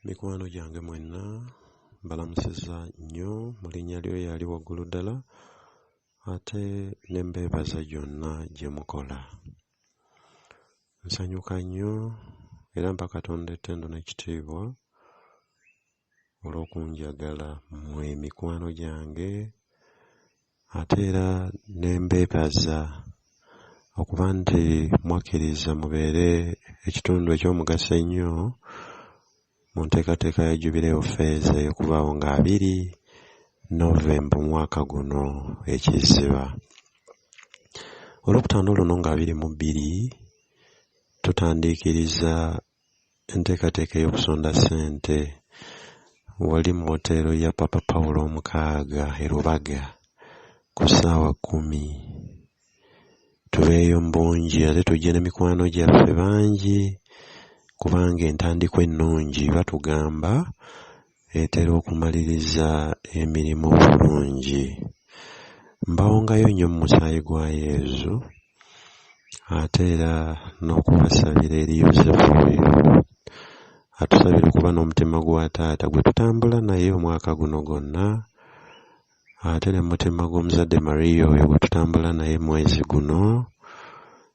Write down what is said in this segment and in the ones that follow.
mikwano gyange mwenna mbalamusiza nnyo mu linnya lyo yali waggulu ddala ate ne mbeebaza gyonna gye mukola nsanyuka nnyo era mpa katonda ettendo n'ekitiibwa olw'okunjagala mmwe mikwano gyange ate era ne mbeebaza okuba nti mwakkiriza mubeere ekitundu eky'omugaso ennyo mu nteekateeka ya Jubilee of Fez ey'okubaawo nga abiri November omwaka guno ekizziba. Olwokutaano luno nga abiri mu bbiri tutandiikiriza Enteekateeka ey'okusonda ssente wali mu woteero ya Papa Paul omukaaga e Lubaga ku ssaawa kkumi. Tubeeyo mu bungi ate tujje ne mikwano gyaffe bangi kubanga entandikwa ennungi batugamba etera okumaliriza emirimu obulungi. Mbawongayo nnyo mu musaayi gwa Yezu ate era n'okubasabira eri Yozefu oyo atusabira okuba n'omutima gwa taata gwe tutambula naye omwaka guno gwonna ate ne mutima gw'omuzadde Maria oyo gwe tutambula naye mwezi guno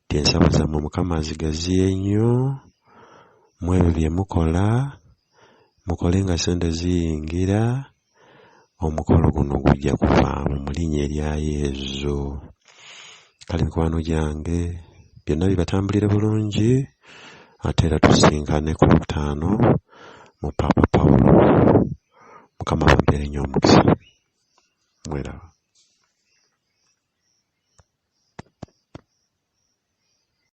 nti ensaba zammwe Mukama azigaziye nnyo mwebyo bye mukola mukole nga sente ziyingira omukolo guno gujja kuvaamu mu linnya erya yezu kale mikwano gyange byonna bibatambulire bulungi ate era tusinkane ku lutaano mu paapa pawulo mukama bampeere nnyo omukisa mweraba